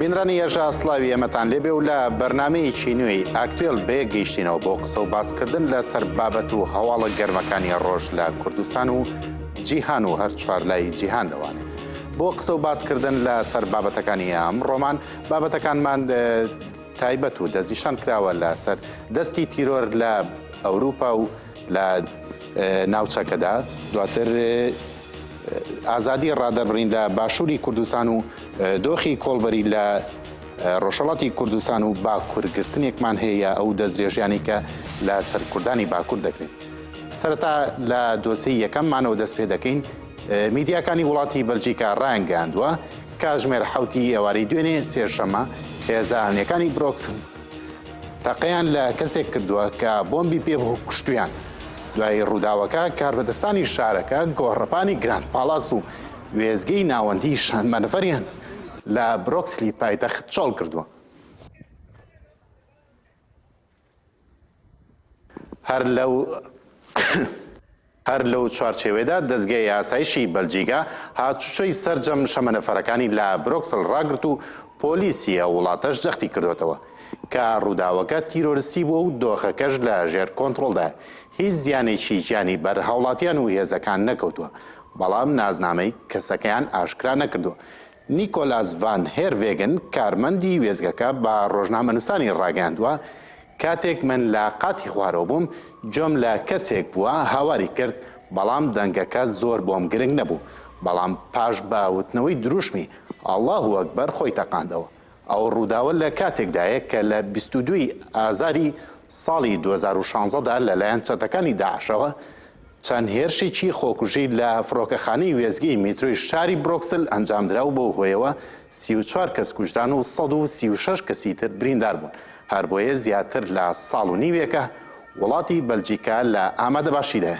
بینرانی یەژا سلاوی ئەمەتان لێبێ و لە بەرنمەیەکی نوێی ئاکتێل بێگەیشتینەوە بۆ قسە و باسکردن لەسەر بابەت و هەواڵە گەرمەکانی ڕۆژ لە کوردستان و جیهان و هەر چوار لای جیهان دەوانێت. بۆ قسە و باسکردن لە سەر بابەتەکانی ئەم ڕۆمان بابەتەکانمان تایبەت و دەستنیشان کراوە لەسەر دەستی تیرۆر لە ئەوروپا و لە ناوچەکەدا دواتر ئازادی ڕادەربڕین لە باشووری کوردستان و دۆخی کۆڵبەری لە ڕۆژەڵاتی کوردستان و باکوورگرتنێکمان هەیە ئەو دەستدرێژیانی کە لە سەرکردانی باکوور دەکرێت سەرتا لە دۆسی یەکەممانەوە دەست پێ دەکەین میدیاکانی وڵاتی بەلجیکا ڕایانگەاندووە کاتژمێر حەوتی ئێوارەی دوێنێ سێشەممە، هێزە ئەمنیەکانی برۆکس تەقەیان لە کەسێک کردووە کە بۆمبی پێ کوشتویان. دوای ڕووداوەکە کاربەدەستانی شارەکە گۆڕەپانی گراند پاڵاس و وێزگەی ناوەندی شانمەنەفەریان لە برۆکسلی پایتەخت چۆڵ کردووە. هەر لەو هەر لەو چوارچێوێدا دەزگای ئاسایشی بەلجیکا هاتوچۆی سەرجەم شەمەنەفەرەکانی لە برۆکسل ڕاگرت و پۆلیسی ئەو وڵاتەش جەختی کردوەتەوە کە ڕووداوەکە تیرۆرستی بووە و دۆخەکەش لە ژێر کۆنترۆلدا هیچ زیانێکی گیانی بەر هاوڵاتیان و هێزەکان نەکەوتووە بەڵام نازنامەی کەسەکەیان ئاشکرا نەکردووە نیکۆلاس ڤان هێرڤێگن، کارمەندی وێستگەکە بە ڕۆژنامەنووسانی ڕاگەیاندووە، کاتێک من لە قاتی خوارەوە بووم، گوێم لە کەسێک بووە هاواری کرد، بەڵام دەنگەکە زۆر بۆم گرنگ نەبوو، بەڵام پاش بە وتنەوەی درووشمی، اللە اکبر، خۆی تەقاندەوە. ئەو ڕووداوە لە کاتێکدایە کە لە بیست و دوو ی ئازاری ساڵی دوو هەزار و شانزە دا لەلایەن چەتەکانی داعشەوە چەند هێرشێکی خۆکوژی لە فڕۆکەخانەی وێستگەی میترۆی شاری برۆکسل ئەنجامدرا و بەو هۆیەوە سی و چوار کەس کوژران و سەد و سی و شەش کەسی تر بریندار بوون هەر بۆیە زیاتر لە ساڵ و نیوێکە وڵاتی بەلجیکا لە ئامادەباشیدایە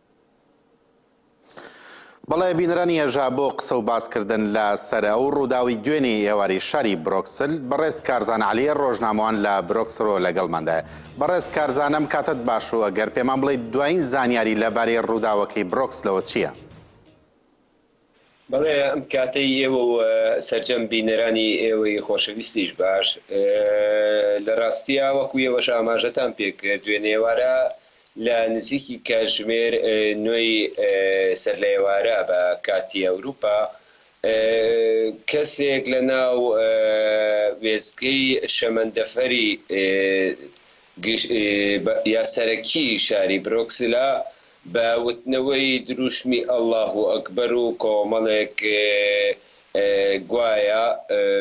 بەڵێ بینرانی ئێژا بۆ قسە و باس کردن لە سەر ئەو ڕووداوی دوێنێی ئێواری شاری برۆکسل بەڕێز کارزان عەلیە ڕۆژنامەوان لە برۆکسرۆ لەگەڵماندایە بەڕێز کارزان ئەم کاتەت باش و ئەگەر پێمان بڵێیت دوایین زانیاری لەبارەی ڕووداوەکەی برۆکسلەوە چییە؟ بەڵێ ئەم کاتەی ئێوە و سەرجەم بینەرانی ئێوەی خۆشەویستیش باش. لە ڕاستیا وەکو ئێوەش ئاماژەتان پێ کرد دوێنێوارە لە نزیکی کاتژمێر نۆی سەر لە ئێوارە بە کاتی ئەوروپا کەسێک لە ناو وێستگەی شەمەندەفەری گشتیی سەرەکیی شاری برۆکسلا بە وتنەوەی درووشمی ئەڵاهوو ئەکبەر و کۆمەڵێک گوایە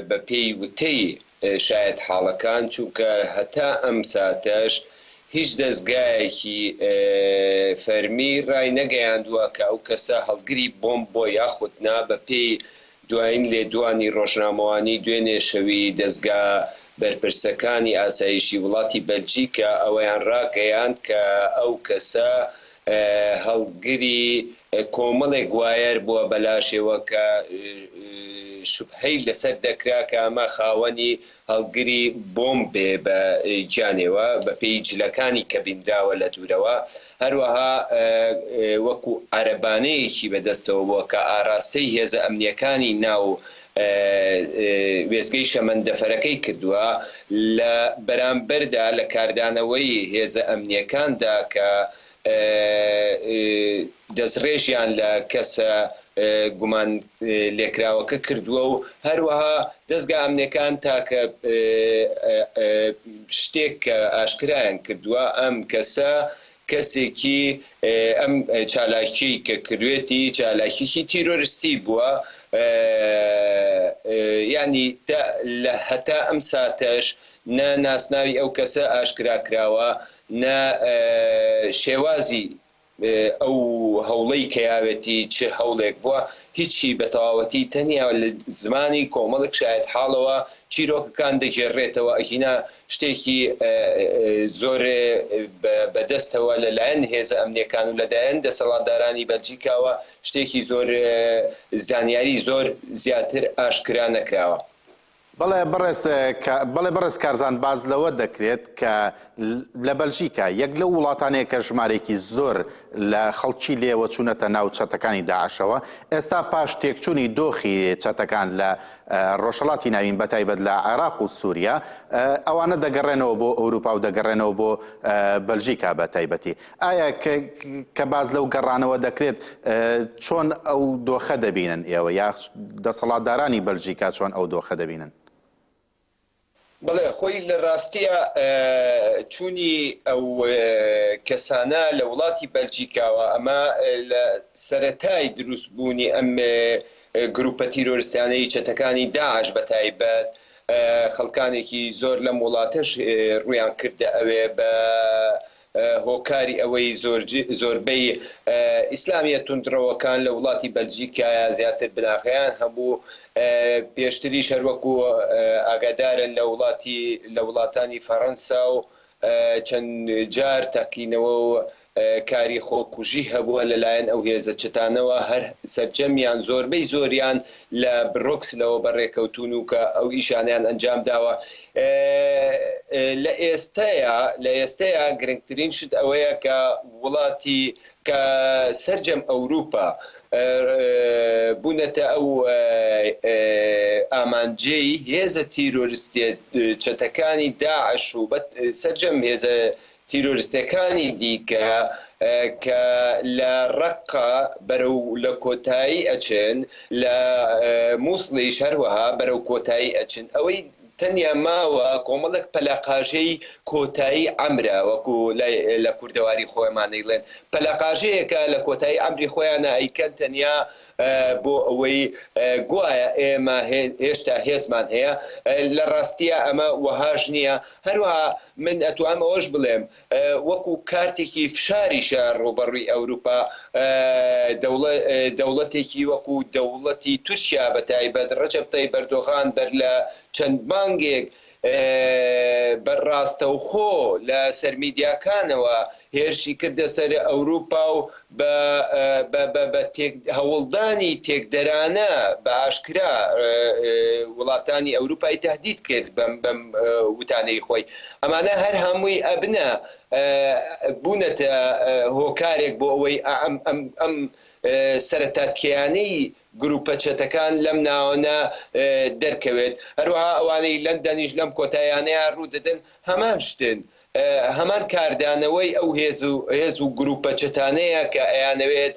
بەپێی وتەی شایەتحاڵەکان، چونکە هەتا ئەم ساتەش هیچ دەزگایەکی فەرمی ڕای نەگەیاندووە کە ئەو کەسە هەڵگری بۆمب بووە یاخود نا، بەپێی دوایین لێدوانی ڕۆژنامەوانی دوێنێ شەوی دەزگا بەرپرسەکانی ئاسایشی وڵاتی بەلجیکا ئەوەیان ڕاگەیاند کە ئەو کەسە هەڵگری کۆمەڵێک وایەر بووە بەلاشێوە کە شوبهەی لەسەر دەکرا کە ئەمە خاوەنی هەڵگری بۆمب بێ بە گیانێوە بە پێی جلەکانی کە بینراوە لە دوورەوە هەروەها وەکو عەرەبانەیەکی بە دەستەوە بووە کە ئاراستەی هێزە ئەمنیەکانی ناو وێستگەی شەمەندەفەرەکەی کردووە لە بەرامبەردا لە کاردانەوەی هێزە ئەمنیەکاندا کە دەستڕێژیان لە کەسە گومانلێکراوەکە کردووە و هەروەها دەزگا ئەمنییەکان تاکە شتێک کە ئاشکرایان کردووە ئەم کەسە کەسێکی ئەم چالاکیەی کە کروێتی چالاکیەکی تیرۆرستی بووە یانی لە هەتا ئەم ساتەش نە ناسناوی ئەو کەسە ئاشکرا کراوە، نە شێوازی ئەو هەوڵەی کەیاوێتی چ هەوڵێک بووە، هیچی بە تەواوەتی تەنیا لە زمانی کۆمەڵێک شایەتحاڵەوە چیرۆکەکان دەگێڕرێتەوە، ئەگینا شتێکی زۆر بە دەستەوە لە لایەن هێزە ئەمنییەکان و لە دایەن دەسەڵاتدارانی بەلجیکاوە شتێکی زۆر زانیاری زۆر زیاتر ئاشکرا نەکراوە. بەڵێ بەڕێز بەڵێ بەڕێز کارزان باز لەوە دەکرێت کە لە بەلژیکا یەک لەو وڵاتانەیە کە ژمارێکی زۆر لە خەڵکی لێوە چوونەتە ناو چەتەکانی داعشەوە ئێستا پاش تێکچوونی دۆخی چەتەکان لە ڕۆژهڵاتی ناوین بە تایبەت لە عێراق و سووریا ئەوانە دەگەڕێنەوە بۆ ئەوروپا و دەگەڕێنەوە بۆ بەلژیکا بە تایبەتی ئایا کە باس لەو گەڕانەوە دەکرێت چۆن ئەو دۆخە دەبینن ئێوە یا دەسەڵاتدارانی بەلژیکا چۆن ئەو دۆخە دەبینن؟ بەڵێ خۆی لە ڕاستیە چوونی ئەو کەسانە لە وڵاتی بەلجیکاوە ئەمە لە سەرەتای دروست بوونی ئەم گروپە تیرۆرستانەی چەتەکانی داعش بە تایبەت خەڵکانێکی زۆر لەم وڵاتەش ڕویان کردە ئەوێ بە هۆکاری ئەوەی زۆربەی ئیسلامیە توندڕەوەکان لە وڵاتی بەلجیکایە زیاتر بناغەیان هەبوو پێشتریش هەر وەکو ئاگادارن لە وڵاتی لە وڵاتانی فەرەنسا و چەند جار تەقینەوە و کاری خۆکوژی هەبووە لەلایەن ئەو هێزە چەتانەوە هەر سەرجەمیان زۆربەی زۆریان لە برۆکس لەوە بەڕێکەوتوون و کە ئەو ئیشانەیان ئەنجام داوە لە ئێستەیا لە ئێستەیا گرنگترین شت ئەوەیە کە وڵاتی کە سەرجەم ئەوروپا بوونەتە ئەو ئامانجەی هێزە تیرۆرستیە چەتەکانی داعش و سەرجەم هێزە تیرۆریستەکانی دیکە کە لە ڕەققە بەرەو لە کۆتایی ئەچن لە موسڵیش هەروەها بەرەو کۆتایی ئەچن ئەوەی تەنیا ماوە کۆمەڵێک پەلەقاژەی کۆتایی عەمرە وەکو لە کوردەواری خۆیمان ئەیڵێن پەلەقاژەیەکە لە کۆتایی عەمری خۆیانە ئەیکەن تەنیا بۆ ئەوەی گوایە ئێمە هێشتا هێزمان هەیە لە ڕاستیا ئەمە وەهاش نیە هەروەها من ئەتوانم ئەوەش بڵێم وەکو کارتێکی فشاریشە ڕووبەڕووی ئەوروپا دەوڵەتێکی وەکو دەوڵەتی تورکیا بە تایبەت ڕەجەب تەیب ئەردۆغان بەر لە چەند مانگێک بە ڕاستەوخۆ لە سەر میدیاکانەوە هێرشی کردە سەر ئەوروپا و بە هەوڵدانی تێکدەرانە بە ئاشکرا وڵاتانی ئەوروپای تەهدید کرد بەم وتانەی خۆی ئەمانە هەر هەمووی ئەبنە بوونەتە هۆکارێک بۆ ئەوەی ئەم سەرەتاتکێیانەی گروپە چەتەکان لەم ناوەنە دەرکەوێت هەروەها ئەوانەی لەندەنیش لەم کۆتاییانەیا روودەدەن هەمان شتن هەمان کاردانەوەی ئەو هێز و گروپە چەتانەیە کە ئەیانەوێت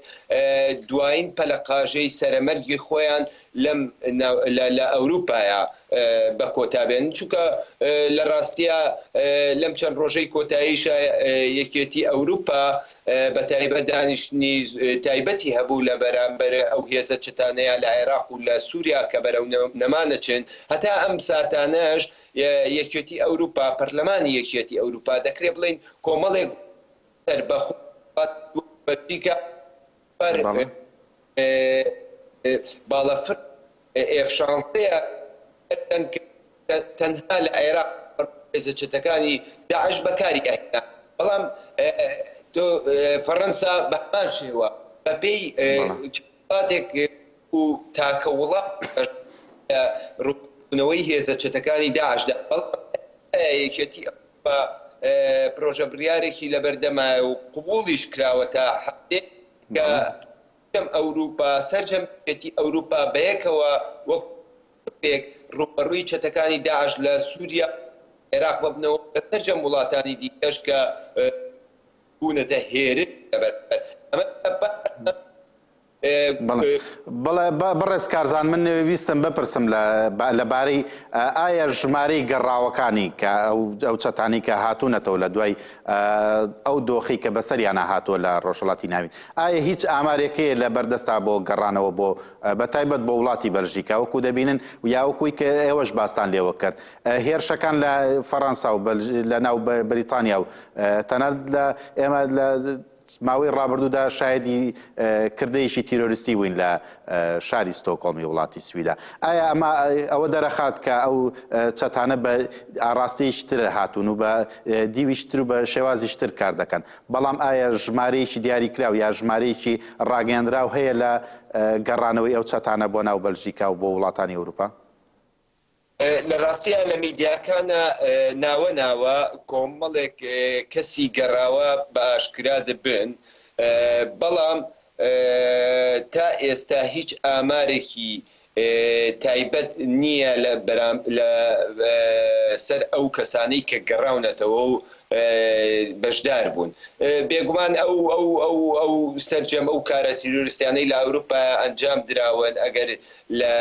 دوایین پەلەقاژەی سەرەمەرگی خۆیان لە ئەوروپایا بە کۆتا بێنن، چونکە لە راستیا لەم چەند رۆژەی کۆتاییشا یەکێتی ئەوروپا بە تایبەت دانیشتنی تایبەتی هەبوو لە بەرامبەر ئەو هێزە چەتانەیا لە عێراق و لە سوریا کە بەرەو نەمانەچن هەتا ئەم ساتانەش یەکێتی ئەوروپا، پەرلەمانی یەکیەتی ئەوروپا، دەکرێ بڵێین کۆمەڵێک سەربەخۆ بەلجیکا بەر باڵە فرد ئێف شانزەیە تەنها لە عێراق هێزە چەتەکانی داعش بەکاری ئەهێنا بەڵام فەرەنسا بەهەمان شێوە بەپێی کاتێک ئەو تاکە وڵاتە بەشدارە لە رووبەڕووبوونەوەی هێزە چەتەکانی داعشدا، بەڵام ئایا یەکێتی ئەوروپا پرۆژە بڕیارێکی لەبەردەمایە و قبوڵیش کراوە تا حەدێک کە سەرجەم ئەوروپا، سەرجەم یەکێتی ئەوروپا بەیەکەوە وەکو گروپێک رووبەڕووی چەتەکانی داعش لە سوریا و عێراق ببنەوە و لە سەرجەم وڵاتانی دیکەش کە. بوونەتە هێرش لەبەر بەڕێز کارزان من ویستم بپرسم لە بارەی ئایا ژمارەی گەڕاوەکانی کە ئەو چەتانی کە هاتوونەتەوە لە دوای ئەو دۆخی کە بەسەریانە هاتووە لە ڕۆژهڵاتی ناوین ئایا هیچ ئامارێکەیە لە بەردەستا بۆ گەڕانەوە بۆ بە تایبەت بۆ وڵاتی بەلژیکا وەکو دەبینن و یاوەکوی کە ئێوەش باستان لێوە کرد هێرشەکان لە فەڕەنسا و لە ناو بریتانیا و تەنانەت لە ئێمە لە ماوەی ڕابردوودا شایدی کردەیەکی تیرۆریستی بووین لە شاری ستۆکۆڵمی وڵاتی سویدا ئایا ئەمە ئەوە دەرەخات کە ئەو چەتانە بە ئاراستەیشتر هاتوون و بە دیویشتر و بە شێوازیشتر کار دەکەن بەڵام ئایا ژمارەیەکی دیاری کراو یا ژمارەیەکی ڕاگەیاندراو هەیە لە گەڕانەوەی ئەو چەتانە بۆ ناو بەلژیکا و بۆ وڵاتانی ئەوروپا؟ لە راستیا لە میدیاکانا ناوە ناوە کۆمەڵێک کەسی گەڕاوە بە ئاشکرا دەبن بەڵام تا ئێستا هیچ ئامارێکی تایبەت نییە لە سەر ئەو کەسانەی کە گەڕاونەتەوە و بەشدار بوون بێگومان ئەو سەرجەم ئەو کارە تیرۆریستیانەی لە ئەوروپا ئەنجام دراون ئەگەر لە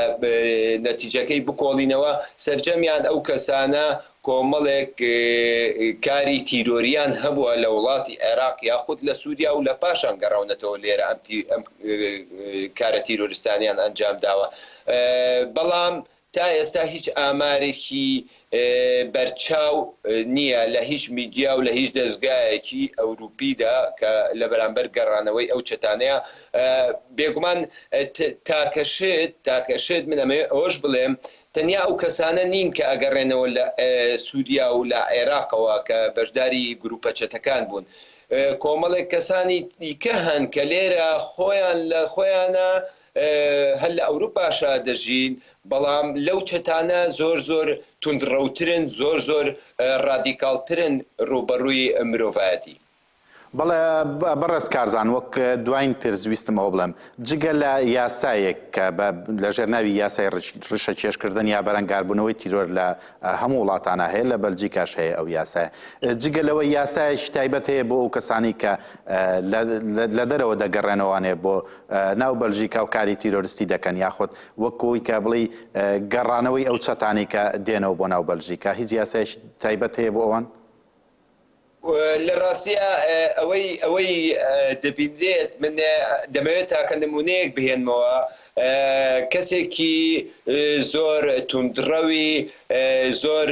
نەتیجەکەی بکۆڵینەوە، سەرجەمیان ئەو کەسانە کۆمەڵێک کاری تیرۆریان هەبووە لە وڵاتی عێراق یاخود لە سوریا و لە پاشان گەڕاونەتەوە لێرە ئەم کارە تیرۆریستانەیان ئەنجامداوە بەڵام تا ئێستا هیچ ئامارێکی بەرچاو نییە لە هیچ میدیا و لە هیچ دەزگایەکی ئەوروپیدا کە لە بەرامبەر گەڕانەوەی ئەو چەتانەیا بێگومان تاکە شت تاکە شت من ئەمەوێ ئەوەش بڵێم تەنیا ئەو کەسانە نین کە ئەگەڕێنەوە لە سوریا و لە عێراقەوە کە بەشداری گروپە چەتەکان بوون کۆمەڵێک کەسانی دیکە هەن کە لێرە خۆیان لە خۆیانە هەر لە ئەوروپاشا دەژین بەڵام لەو چەتانە زۆر زۆر توندڕەوترن زۆر زۆر ڕادیکاڵترن ڕووبەڕووی مرۆڤایەتی. بەڵێ بەڕێز کارزان وەک دواین پرس ویستم ئەوە بڵێم جگە لە یاسایەک کە لە ژێر ناوی یاسای ڕیشە کێش کردن یا بەرەنگار بوونەوەی تیرۆر لە هەموو وڵاتانا هەیە لە بەلجیکاش هەیە ئەو یاسایە جگە لەوە یاسایەکی تایبەت هەیە بۆ ئەو کەسانی کە لە دەرەوە دەگەڕێنەوانێ بۆ ناو بەلژیکا و کاری تیرۆرستی دەکەن یاخود وەک ئەوی کە بڵێی گەڕانەوەی ئەو چەتانەی کە دێنەوە بۆ ناو بەلژیکا هیچ یاسایش تایبەت هەیە بۆ ئەوان؟ لە ڕاستیە ئەوەی ئەوەی دەبینرێت من دەمەوێت تاکە نمونەیەک بهێنمەوە کەسێکی زۆر توندڕەوی زۆر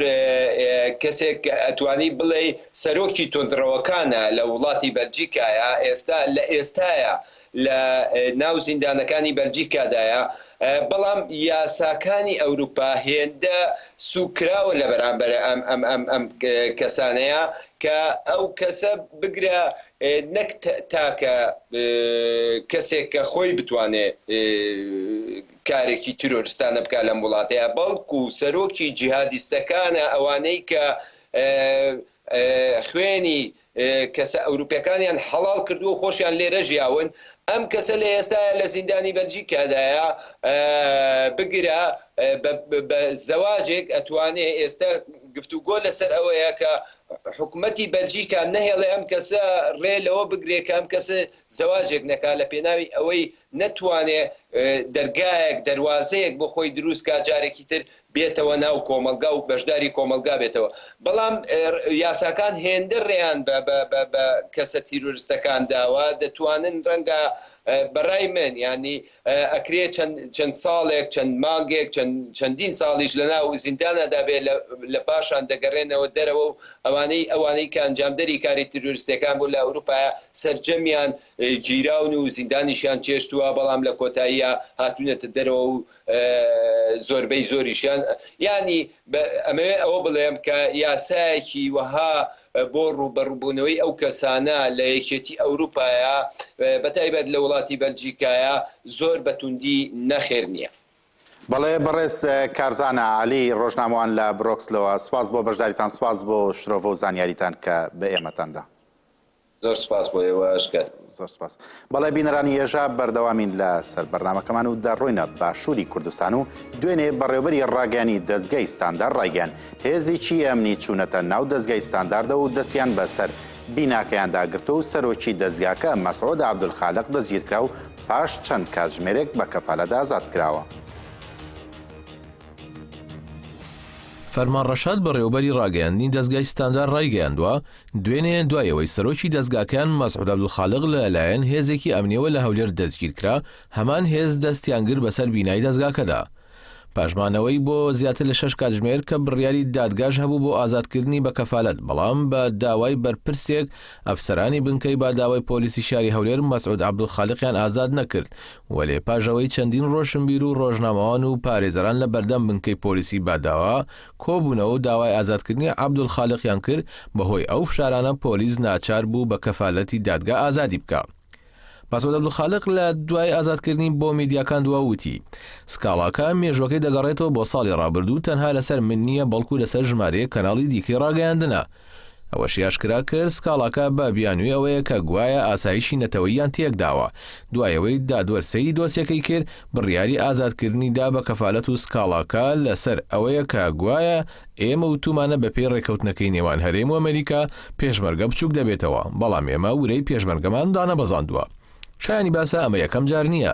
کەسێک ئەتوانی بڵێ سەرۆکی توندڕەوەکانە لە وڵاتی بەلجیکایە ئێستا لە ئێستاە لە ناو زیندانەکانی بەلجیکادایە، بەڵام یاساکانی ئەوروپا هێندە سووک کراوە لە بەرامبەر ئەم کەسانەیا کە ئەو کەسە بگرە نەک تاکە کەسێک کە خۆی بتوانێ کارێکی تیرۆرستانە بکا لەم وڵاتەیا بەڵکو سەرۆکی جیهادیستەکانە ئەوانەی کە خوێنی کەسە ئەوروپیەکانیان حەڵاڵ کردووە و خۆشیان لێرە ژیاون، ئەم کەسە لە ئێستایا لە زیندانی بەلجیکادایە، بگرە بە زەواجێک ئەتوانێ ئێستا گفتوگۆ لەسەر ئەوەیە کە حکومەتی بەلجیکا نەهێڵێ ئەم کەسە رێ لەوە بگرێ کە ئەم کەسە زەواجێک نەکا لە پێناوی ئەوەی نەتوانێ دەرگایەک دەروازەیەک بۆ خۆی دروست کا جارێکی تر بێتەوە ناو کۆمەڵگا و بەشداری کۆمەڵگا بێتەوە بەڵام یاساکان هێندە رێیان بە بە بە بە کەسە تیرۆرستەکان داوە دەتوانن رەنگە بە رای من یانی ئەکرێ چەند چەند ساڵێک چەند مانگێک چەند چەندین ساڵیش لە ناو زیندانا دا بێ لە لە پاشان دەگەرێنەوە دەرەوە و ئەوانەی ئەوانەی کە ئەنجامدەری کاری تیرۆرستیەکان بوون لە ئەوروپایا سەرجەمیان گیراون و زیندانیشیان چێشتوە بەڵام لە کۆتاییا هاتوونەتە دەرەوە و زۆربەی زۆریشیان یانی ئەمەوێ ئەوە بڵێم کە یاسایەکی وەها بۆ ڕووبەڕووبوونەوەی ئەو کەسانە لە یەکێتی ئەوروپایە بە تایبەت لە وڵاتی بەلجیکایە زۆر بە توندی نەخێر نییە. بەڵێ بەڕێز کارزانا عەلی ڕۆژنامەوان لە برۆکسلەوە، سپاس بۆ بەشداریتان سپاس بۆ شرۆڤە و زانیاریتان کە بە ئێمەتان دا. زۆر سوپاس بۆ ئێوەش کە. زۆر سوپاس. بەڵێ بینەرانی یەژا بەردەوامین لە سەر بەرنامەکەمان و دەڕۆینە باشووری کوردستان و دوێنێ بەڕێوبەری ڕاگەیانی دەزگای ستاندار ڕایگەیان هێزیی ئەمنی چوونەتە ناو دەزگای ستانداردە و دەستیان بەسەر بیناکەیاندا گرتووە و سەرۆکی دەزگاکە مەسعود عەبدولخالق دەستگیرکرا و پاش چەند کاتژمێرێک بە کەفالەت ئازاد کراوە. فەرمان ڕەشاد بەڕێوەبەری ڕاگەیاندنی دەزگای ستاندار ڕایگەیاندووە، دوێنێ دوای ئەوەی سەرۆکی دەزگاکەیان مەسعود عەبدولخالق لە لایەن هێزێکی ئەمنیەوە لە هەولێر دەستگیرکرا، هەمان هێز دەستیان گرت بەسەر بینای دەزگاکەدا. پاش مانەوەی بۆ زیاتر لە شەش کاتژمێر کە بڕیاری دادگاش هەبوو بۆ ئازادکردنی بە کەفالەت بەڵام بە داوای بەرپرسێک ئەفسەرانی بنکەی باداوای پۆلیسی شاری هەولێر مەسعود عەبدولخالقیان ئازاد نەکرد وەلێ پاش ئەوەی چەندین ڕۆشنبیر و ڕۆژنامەوان و پارێزەران لە بەردەم بنکەی پۆلیسی باداوا کۆبوونەوە و داوای ئازادکردنی عەبدولخالقیان کرد، بەهۆی ئەو فشارانە پۆلیس ناچار بوو بە کەفالەتی دادگا ئازادی بکا. مەسعود عەبدولخالق لە دوای ئازادکردنی بۆ میدیاکان دوا وتی، سکاڵاکە مێژووەکەی دەگەڕێتەوە بۆ ساڵی ڕابردوو تەنها لەسەر من نییە بەڵکو لەسەر ژمارەیەک کەناڵی دیکەی ڕاگەیاندنە، ئەوەشی ئاشکرا کرد، سکاڵاکە بە بیانووی ئەوەیە کە گوایە ئاسایشی نەتەوەییان تێکداوە، دوای ئەوەی دادوەر سەیری دۆسیەکەی کرد، بڕیاری ئازادکردنی دا بە کەفالەت و سکاڵاکە لەسەر ئەوەیە کە گوایە ئێمە وتومانە بەپێی ڕێککەوتنەکەی نێوان هەرێم و ئەمەریکا پێشمەرگە بچووک دەبێتەوە، بەڵام ئێمە ورەی پێشمەرگەمان دانەبەزاندووە. شایانی باسە ئەمە یەکەم جار نییە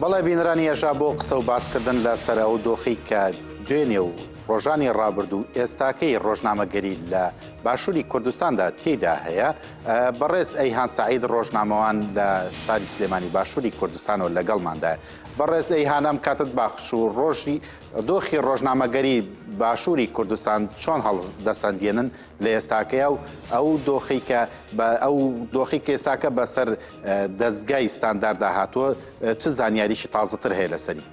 بەڵێ بینرانی ئێژا بۆ قسە و باسکردن لە سەر ئەو دۆخی کە دوێنێ و ڕۆژانی ڕابرد و ئێستاکەی ڕۆژنامەگەری لە باشووری کوردستاندا تێدا هەیە بەڕێز ئەیهان سعید ڕۆژنامەوان لە شاری سلێمانی باشووری کوردستانەوە لەگەڵماندا بەڕێز ئەیهان ئەم کاتت باخش و ڕۆژی دۆخی ڕۆژنامەگەری باشووری کوردستان چۆن هەڵ دەسەندێنن لە ئێستاکەیا و ئەو دۆخی کە بە ئەو دۆخی کێساکە بەسەر دەستگای ستانداردا هاتووە چ زانیاریی تازەتر هەیە لەسەری.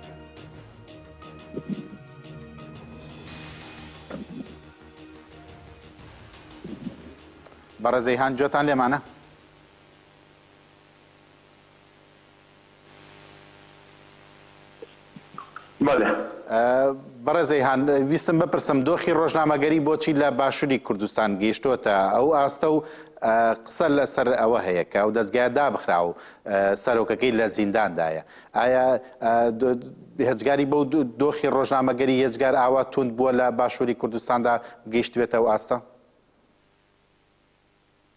بەڕێزەیهان جۆتان لێمانە؟ بەڵێ. بەڕێز ئەیهان ویستم بپرسم دۆخی ڕۆژنامەگەری بۆچی لە باشووری کوردستان گەیشتۆتە ئەو ئاستە و قسە لەسەر ئەوە هەیە کە ئەو دەستگایە دابخرا و سەرۆکەکەی لە زینداندایە ئایا هەجگاری بەو دۆخی ڕۆژنامەگەری یەجگار ئاوا توند بووە لە باشووری کوردستاندا گەیشتبێتە ئەو ئاستە؟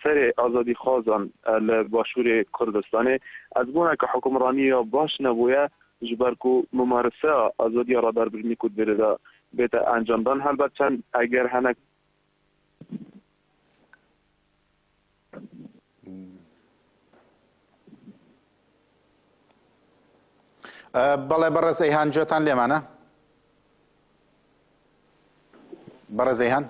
سەرێ ئازادیخوازان لە باشوورێ کوردستانێ ئەز بوونە ک حوکمڕانیێا باش نەبویە ژ بەر کو مومارسە ئازادیێا را بەر بژنی کورد بێرێدا بێتە ئەنجامدان هەربەر چەن ئەگەر هەنە بەڵێ بەڕێز ئەیهان گوێتان لێمانە؟ بەڕێز ئەیهان.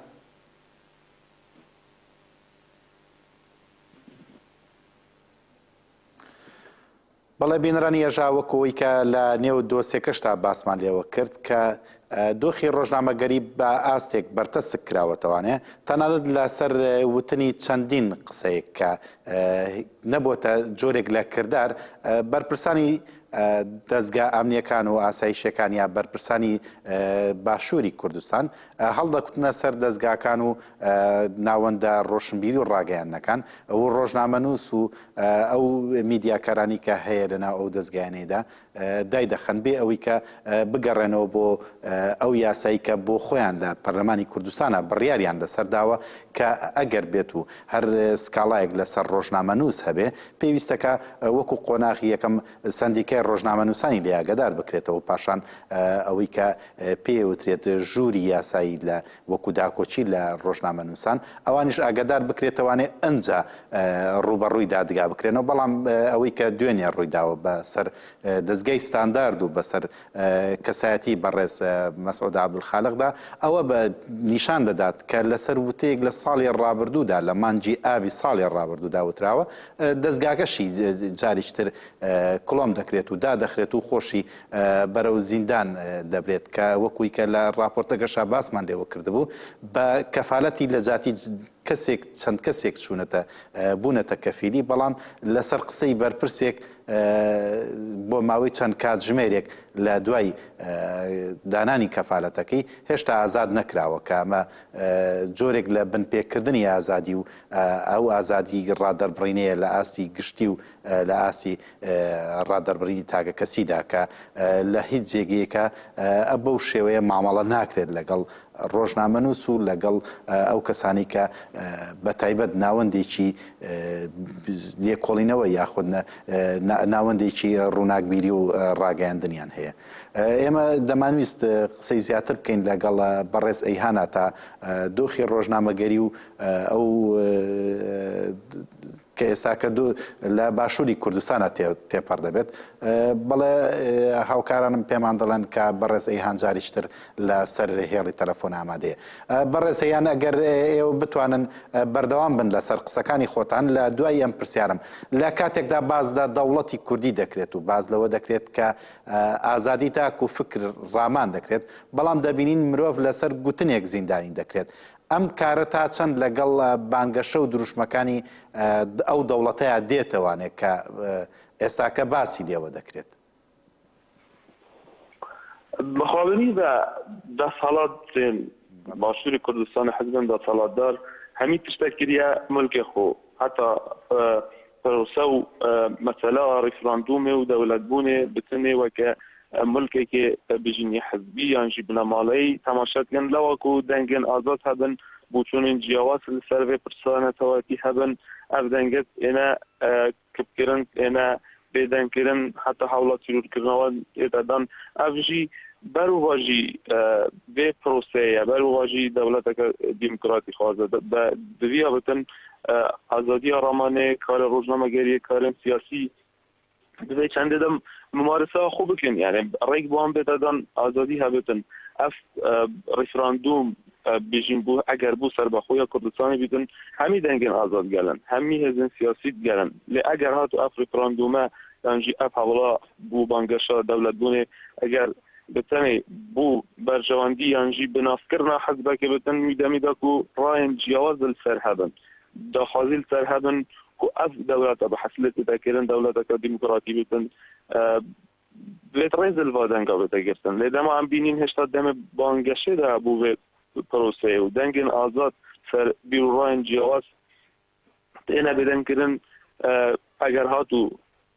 بەڵێ بینەرانی ئێژا وەکو ئەوی کە لە نێو دۆسێکەشتا باسمان لێوە کرد کە دۆخی ڕۆژنامەگەری بە ئاستێک بەرتەسک کراوەتەوانێ تەنانەت لەسەر وتنی چەندین قسەیەک کە نەبووتە جۆرێک لە کردار بەرپرسانی دەزگا ئەمنییەکان و ئاسایشییەکان یا بەرپرسانی باشووری کوردستان هەڵدەکوتنە سەر دەزگاکان و ناوەندە ڕۆشنبیری و ڕاگەیاندنەکان و ڕۆژنامەنووس و ئەو میدیاکارانی کە هەیە لەناو ئەو دەزگایانەیدا دایدەخەن بێ ئەوەی کە بگەڕێنەوە بۆ ئەو یاسایی کە بۆ خۆیان لە پەرلەمانی کوردستانە بڕیاریان لەسەر داوە کە ئەگەر بێت و هەر سکاڵایەک لەسەر ڕۆژنامەنووس هەبێ پێویستە کە وەکو قۆناغی یەکەم سەندیکای ڕۆژنامەنووسانی لێ ئاگادار بکرێتەوە و پاشان ئەوەی کە پێی وترێت ژووری یاسایی لە وەکو داکۆکی لە ڕۆژنامەنووسان ئەوانیش ئاگادار بکرێتەوانێ ئەنجا ڕووبەڕووی دادگا بکرێنەوە بەڵام ئەوەی کە دوێنێ ڕوویداوە بەسەر دەزگای ستاندارد و بەسەر کەسایەتی بەڕێز مەسعود عەبدولخالقدا ئەوە بە نیشان دەدات کە لەسەر وتەیەک لە ساڵی ڕابردوودا لە مانگی ئابی ساڵی ڕابردوودا وتراوە دەستگاکەشی جاریش تر کڵۆم دەکرێت و دادەخرێت و خۆشی بەرەو زیندان دەبرێت کە وەکوی کە لە ڕاپۆرتەکەشا باسمان لێوە کردبوو بە کەفالەتی لە جاتی کەسێک چەند کەسێک چوونەتە بوونەتە کەفیلی بەڵام لەسەر قسەی بەرپرسێک بۆ ماوەی چەند کاتژمێرێک لە دوای دانانی کەفالەتەکەی هێشتا ئازاد نەکراوە کە ئەمە جۆرێک لە بنپێکردنی ئازادی و ئەو ئازادی ڕادەربڕینەیە لە ئاستی گشتی و لە ئاستی ڕادەربڕینی تاکەکەسیدا کە لە هیچ جێگەیەکا بەو شێوەیە مامەڵە ناکرێت لەگەڵ ڕۆژنامەنووس و لەگەڵ ئەو کەسانی کە بە تایبەت ناوەندێکی لێکۆڵینەوە یاخود ناوەندێکی ڕووناکبیری و ڕاگەیاندنیان هەیە ئێمە دەمانویست قسەی زیاتر بکەین لەگەڵ بەڕێز ئەیهانا تا دۆخی ڕۆژنامەگەری و ئەو کە ئێستا کە دوو لە باشووری کوردستانا تێپەڕ دەبێت، بەڵێ هاوکارانم پێمان دەڵێن کە بەڕێز ئەیهان جاریشتر لە سەر هێڵی تەلەفۆن ئامادەیە. بەڕێز ئەیهان ئەگەر ئێوە بتوانن بەردەوام بن لە سەر قسەکانی خۆتان لە دوای ئەم پرسیارم، لە کاتێکدا باز لە دەوڵەتی کوردی دەکرێت و باز لەوە دەکرێت کە ئازادی تاک و فکر ڕامان دەکرێت، بەڵام دەبینین مرۆڤ لە سەر گوتنێک زیندانی دەکرێت، ئەم کارە تا چەند لەگەڵ بانگەشە و دروشمەکانی ئەو دەوڵەتەیا دێتەوانێ کە ئێستاکە باسی لێوە دەکرێت؟ بەخاوێنی بە دەسەڵات دێن باشووری کوردستان حزبن دەسەڵاتدار هەمی تشتە کریا ملکێ خۆ هەتا پرۆسە و مەسەلا ڕیفراندومێ و دەولەتبوونێ بچنێ وەکە ملکەکێ بژینی حزبی یانژی بنەماڵەیی تەماشا بکەن لەوەکو دەنگێن ئازاد هەبن بوچونین جیاواز لەسەر ڤێ پرسە نەتەوەیەتی هەبن ئەڤ دەنگەت ئێنە کپ کرن ئێنە بێ دەنگ کرن حەتا هەوڵە تیرور کرنەوە ئێدە دان ئەڤ ژی بەرو ڤاژی ڤێ پرۆسەیە بەرو ڤاژی دەولەتەکە دیموکراتی خوازە بە دڤیا بتن ئازادیا رامانێ کارێ رۆژنامەگەریە کارێن سیاسی دبێ چەندێ دەم ممارسە خۆ بکەن یانێ ڕێک بۆم بێتەدان ئازادی هەبێتن ئەف ڕیفراندوم بژین بوو ئەگەر بوو سەر بەخۆیە کوردستانی بیتن هەمی دەنگن ئازاد گەلن هەمی هێزن سیاسی گەلن لێ ئەگەر هات و ئەف ڕیفراندومە دانجی ئەف هەوڵا بوو بانگەشە دەولەت بوونێ ئەگەر بتەنێ بوو بەرژەوەندی یانژی بناسکردنا حەزبەکە بتن میدەمیدەک و ڕایەن جیاواز سەر هەبن داخوازی لە سەر هەبن کو ئەڤ دەولەتە بە حەسلێتی دەکەێرن دەولەتەکە دیموکراتی بتن بێت ڕێزل ڤا دەنگا بێتە گرتن لێ دەما ئەم بینین هێشتا دەمێ بانگەشێ دا بوو بێت پرۆسەیە و دەنگێن ئازاد سەر بیروڕاین جیاواز تێنە بێدەنگکردن ئەگەر هات و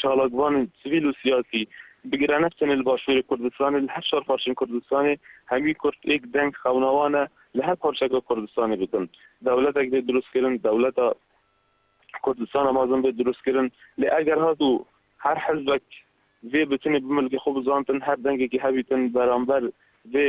چالاکڤان سڤیل و سیاسی، بگرانە چەنێ لە باشوورێ کوردستانێ، لە هەر شار پارچەێ کوردستانێ، هەموی کورد ئێک دەنگ خەوناوانە لە هەر پارچەێکا کوردستانێ ببن. دەولەتێک بێ دروست کرن، دەولەتا کوردستانە مازن بێ دروست کرن. لێ ئەگەر هات و هەر حزبێک ڤێ بتنێ بملکێ خۆ بزانتن، هەر دەنگێکی هەبیتن بەرامبەر ڤێ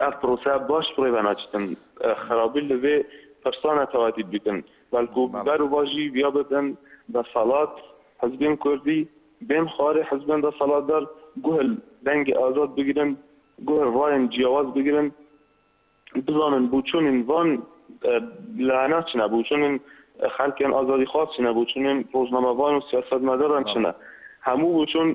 ئەڤ پرۆسە باش پڕێ بە ناچتن خرابی لڤێ پرسا نەتەوەتی بیتن، بەلکو بەر و باژی ویا ببن دەسەڵات، حزبێن کوردی بێن خوارێ حزبێن دەسەڵاتدار گوهل دەنگێ ئازاد بگرن، گوهل رایێن جیاواز بگرن، بزانن بوچونێن ڤان لانە چنە، بوچونێن خەلکێن ئازادیخواز چنە، بوچونێن رۆژنامەڤان و سیاسەتمەداران چنە، هەموو بوچون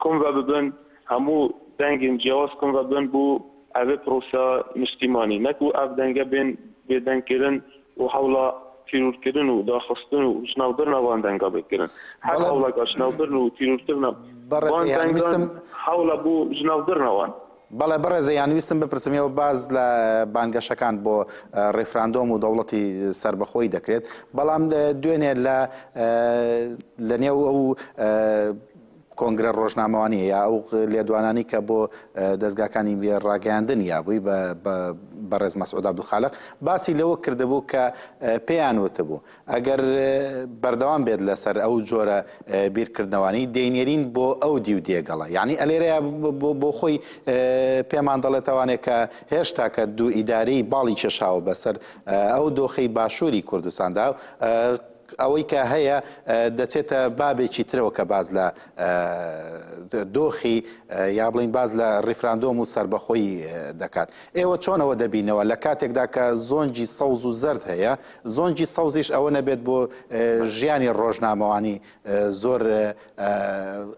کۆم ڤە ببن، هەموو دەنگین جیاواز کن و بن بو ئەڤێ پرۆسە نیشتیمانی، نەک وو ئەڤ دەنگە بێن بێ دەنگ کرن و هەوڵا تیرور کرن و داخستن و ژناو برنا وان دەنگا بێ کرن. هەر بەڵێ هەوڵا گا ژناو برن و تیرور کرنا بەڕێز وان ئێیان دەنگان ویستم هەوڵا بو ژناو برنا وان. بەڵێ بەڕێز ئێیان ویستم بپرسم ئێوە باس لە بانگەشەکان بۆ ڕیفراندۆم و دەوڵەتی سەربەخۆی دەکرێت بەڵام دوێنێ لە لە نێو ئەو کۆنگرە ڕۆژنامەوانیە یا ئەو لێدوانانی کە بۆ دەزگاکانی ڕاگەیاندن یا بووی بەڕێز مەسعود عبدالخالق باسی لەوە کردبوو کە پێیان وتبوو ئەگەر بەردەوام بێت لەسەر ئەو جۆرە بیرکردنەوانی دەینێرین بۆ ئەو دیو دێگەڵە یعنی ئەلێرەیە بۆ خۆی پێمان دەڵێتوانێت کە هێشتا کە دوو ئیداری باڵی کێشاوە بەسەر ئەو دۆخی باشووری کوردستاندا ئەوەی کە هەیە دەچێتە بابێکی ترەوە کە باس لە دۆخی یا بڵین باس لە ڕیفراندۆم و سربەخۆی دەکات ئێوە چۆنەوە دەبینەوە لە کاتێکدا کە زۆنجی سەوز و زرد هەیە زۆنجی سەوزیش ئەوە نەبێت بۆ ژیانی ڕۆژنامەوانی زۆر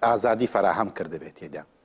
ئازادی فراهەم کردبێت تێدا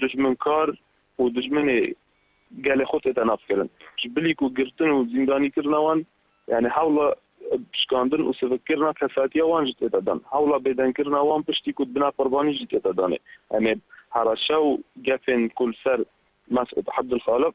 دوژمنکار و دوژمنێ گەلێ خۆ تێ تەناف کەرن ژ بلیک و گرتن و زیندانی کرنا وان، یانێ هەوڵا پشکاندن و سڤک کرنا کەساتیا وان ژ تێ دەدان، هەوڵا بێدەنگ کرنا وان پشتی کوت بنا قوربانی ژی تێ دەدانێ، ئەمێ هەڕەشە و گەفێن کول سەر مەسعود حەبدولخالق،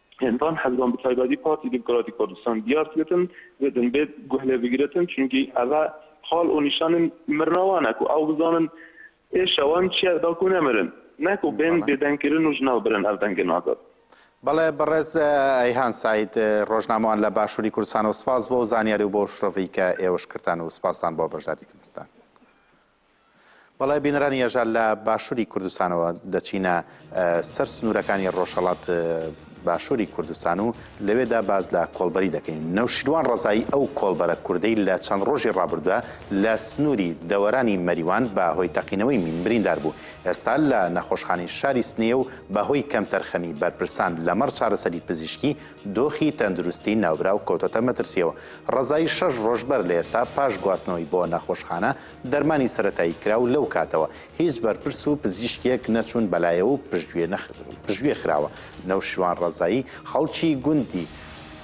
هێندان حزبان بتایبەتی پارتی دیموکراتی کوردستان دیار تیەتن زدن بێت گوه لێ بگرتن چونکی ئەڤە حال ئو نیشانن مرناوانە کو ئەو بزانن ئێ شەوان چیە داکو نەمرن نەکو بێن بێ دەنگ کرن و ژناو برن ئەڤ دەنگن ئازاد. بەڵێ بەڕێز ئەیهان سەعید ڕۆژنامەوان لە باشووری کوردستانەوە سپاس بۆ ئەو زانیاری و بۆ ئەو شرۆڤەی کە ئێوەش کردتان و سپاستان بۆ بەشداریکردنتان. بەڵێ بینەرانی یەژا لە باشووری کوردستانەوە دەچینە سەر سنوورەکانی ڕۆژهەڵات باشووری کوردستان و لەوێدا باز لە کۆڵبەری دەکەین نەوشیروان ڕزایی ئەو کۆڵبەرە کوردەی لە چەند ڕۆژی ڕابردوە لە سنووری دەوەرانی مەریوان بە هۆی تەقینەوەی مین بریندار بوو ئێستا لە نەخۆشخانی شاری سنەیە و بەهۆی کەمتەرخەمی بەرپرسان لەمەڕ چارەسەری پزیشکی دۆخی تەندروستی ناوبراو کۆتەتە مەترسیەوە ڕزایی شەش ڕۆژبەر لە ئێستا پاش گواستنەوەی بۆ نەخۆشخانە دەرمانی سەرەتایی کرا و لەو کاتەوە هیچ بەرپرس و پزیشکێک نەچوون بەلایەوە و پشتگوێ نەخ پشتگوێ خراوە. نەوشیروان ڕەزایی، خەڵکی گوندی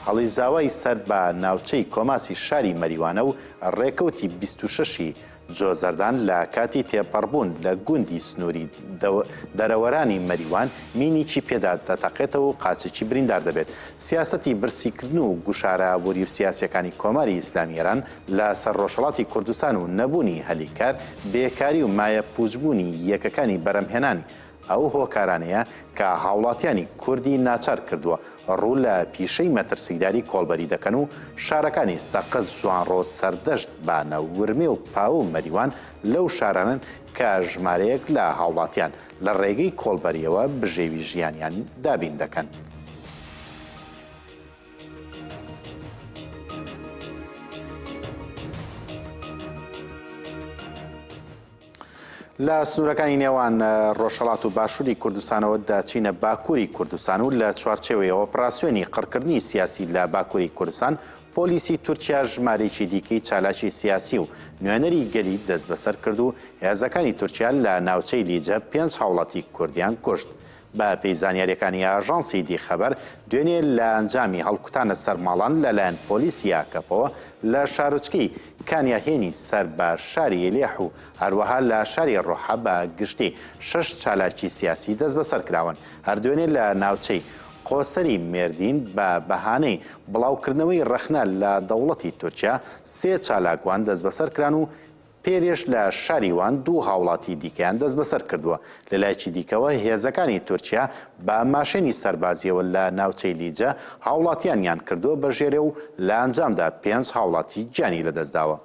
هەڵیزاوای سەر بە ناوچەی کۆماسی شاری مەریوانە و ڕێکەوتی بیست و شەش ی جۆزەردان لە کاتی تێپەڕبوون لە گوندی سنووری دەو دەرەوەرانی مەریوان مینیکی پێدا دەتەقێتەوە و قاچێکی بریندار دەبێت. سیاسەتی برسیکردن و گوشارە وریوسیاسیەکانی کۆماری ئیسلامی ئێران، لە سەر ڕۆژهەڵاتی کوردستان و نەبوونی هەلی کار، بێکاری و مایە پووچبوونی یەکەکانی بەرەمهێنانی ئەو هۆکارانەیە کە هاوڵاتیانی کوردی ناچار کردووە ڕوو لە پیشەی مەترسیداری کۆڵبەری دەکەن و شارەکانی سەقز جوانڕۆ سەردەشت بانە ورمێ و پاوو مەریوان لەو شارانەن کە ژمارەیەک لە هاوڵاتیان لە ڕێگەی کۆڵبەریەوە بژێوی ژیانیان دابین دەکەن. لە سنوورەکانی نێوان ڕۆژهڵات و باشووری کوردستانەوە داچینە باکووری کوردستان و لە چوارچێوەیە ئۆپراسسیۆنی قڕکردنی سیاسی لە باکووری کوردستان پۆلیسی تورکیا ژمارێکی دیکەی چالاکی سیاسی و نوێنەری گەلی دەست بەسەر کرد و هێزەکانی تورکیا لە ناوچەی لیجە پێنج هاوڵاتی کوردیان کوشت بەپێی زانیارییەکانی ئاژانسی دی خەبەر، دوێنێ لە ئەنجامی هەڵکوتانە سەر ماڵان لەلایەن پۆلیسی ئاکەپەوە لە شارۆچکەی کانیاهێنی سەر بە شاری ئیلیح و هەروەها لە شاری ڕۆحا بە گشتی شەش چالاکی سیاسی دەستبەسەر کراون هەر دوێنێ لە ناوچەی قۆسەری مێردین بە بەهانەی بڵاوکردنەوەی ڕەخنە لە دەوڵەتی تورکیا سێ چالاکوان دەستبەسەر کران و پێرێش لە شاری وان دوو هاوڵاتی دیکەیان دەستبەسەر کردووە، لەلایەکی دیکەوە هێزەکانی تورکیا بە ماشێنی سەربازییەوە لە ناوچەی لیجە هاوڵاتیانیان کردووە بە ژێرێ و لە ئەنجامدا پێنج هاوڵاتی گیانی لەدەستداوە.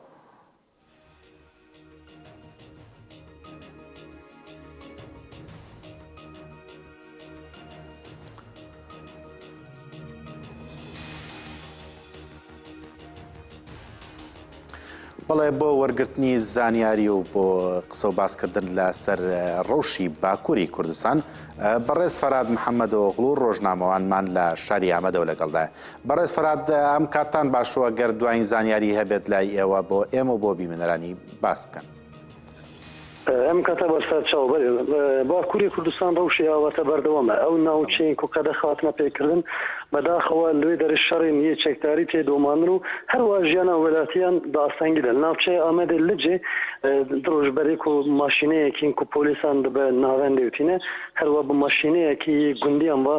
بەڵێ بۆ وەرگرتنی زانیاری و بۆ قسە و باسکردن لە سەر ڕەوشی باکووری کوردستان بەڕێز فەراد محەممەدۆغڵ و ڕۆژنامەوانمان لە شاری ئامەدەوە لەگەڵدای بەڕێز فەراد ئەم کاتان باشوە گەر دوایین زانیاری هەبێت لای ئێوە بۆ ئێمە بۆ بیمەنەرانی باس بکەن. ئەم کەتە بەسەر چاو بەرێز باکوری کوردستان ڕەوشی ئاواتە بەردەوامە ئەو ناوچەین کو قەدە خاتنە پێکردن بەداخەوە لوێ دەرش شەڕین یێ چەکداری تێ دۆماندن و هەروا ژیانا وێلاتیان بە ئاسانگی دەن ناوچەێ ئامەێ لجێ دڕوش بەرێک و ماشینەیەکین کو پۆلیسان دبە ناوەندێ وتینە هەروا بە ماشینەیەکی یێ گوندیان وا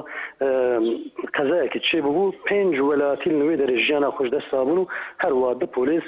قەزایەکی چێ ببوو پێنج وێلاتی لوێ دەرش ژیانا خوش دەسا بوون و هەروا دە پۆلیس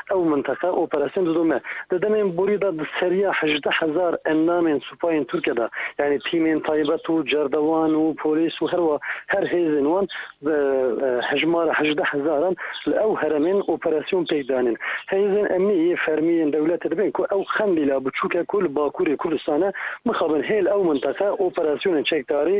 ئەو مەنتەقە ئۆپەراسیۆن ددۆمە دە دەمێن بوری دە سەریا هەژدە هەزار ئەندامێن سوپاین تورکە دە یانی تیمێن تایبەت و جەردەوان و پۆلیس و هەروە هەر هێزێن وان هەژمارە هەژدە هەزاران لە ئەو هەرەمێن ئۆپەراسیۆن پێکدانێن هێزێن ئەمنی یە فەرمیێن دەولەت دەبێن کو ئەو خەندی لا بچووکە کول باکووری کوردستانە مخابن هێل ئەو مەنتەقە ئۆپەراسیۆنێن چێکداری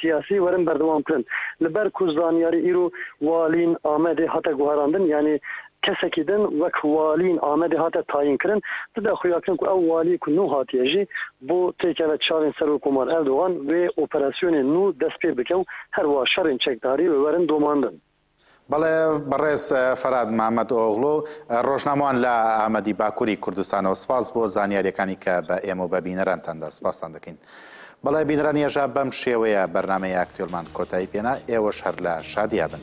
سیاسی وەرن بەردەوام بکەن لەبەر کو زانیاری ئیرو والین ئامەدێ هاتە گوهراندن یانێ کەسەکی دن وەک والین ئامەدێ هاتە تاین کرن تدا خویاکرن کو ئەو والیە کو نو هاتیە ژی بو تێکەوە چاوێن سەرۆک کومار ئەردوغان وێ ئۆپراسیۆنێ نو دەس پێ بکەو هەروا شەڕێن چەکداری وەرن دۆماندن. بەڵێ بەڕێز فەراد مامەد ئۆغلۆ ڕۆژنامەوان لە ئامەدی باکووری کوردستانەوە سپاس بۆ زانیاریەکانی کە بە ئێمە و بە بینەرانتاندا سپاستان دەکەین. بەڵێ بینەران یەژا بەم شێوەیە بەرنمەی ئاکتێلمان کۆتایی پێنا ئێوەش هەر لە شادیا بن.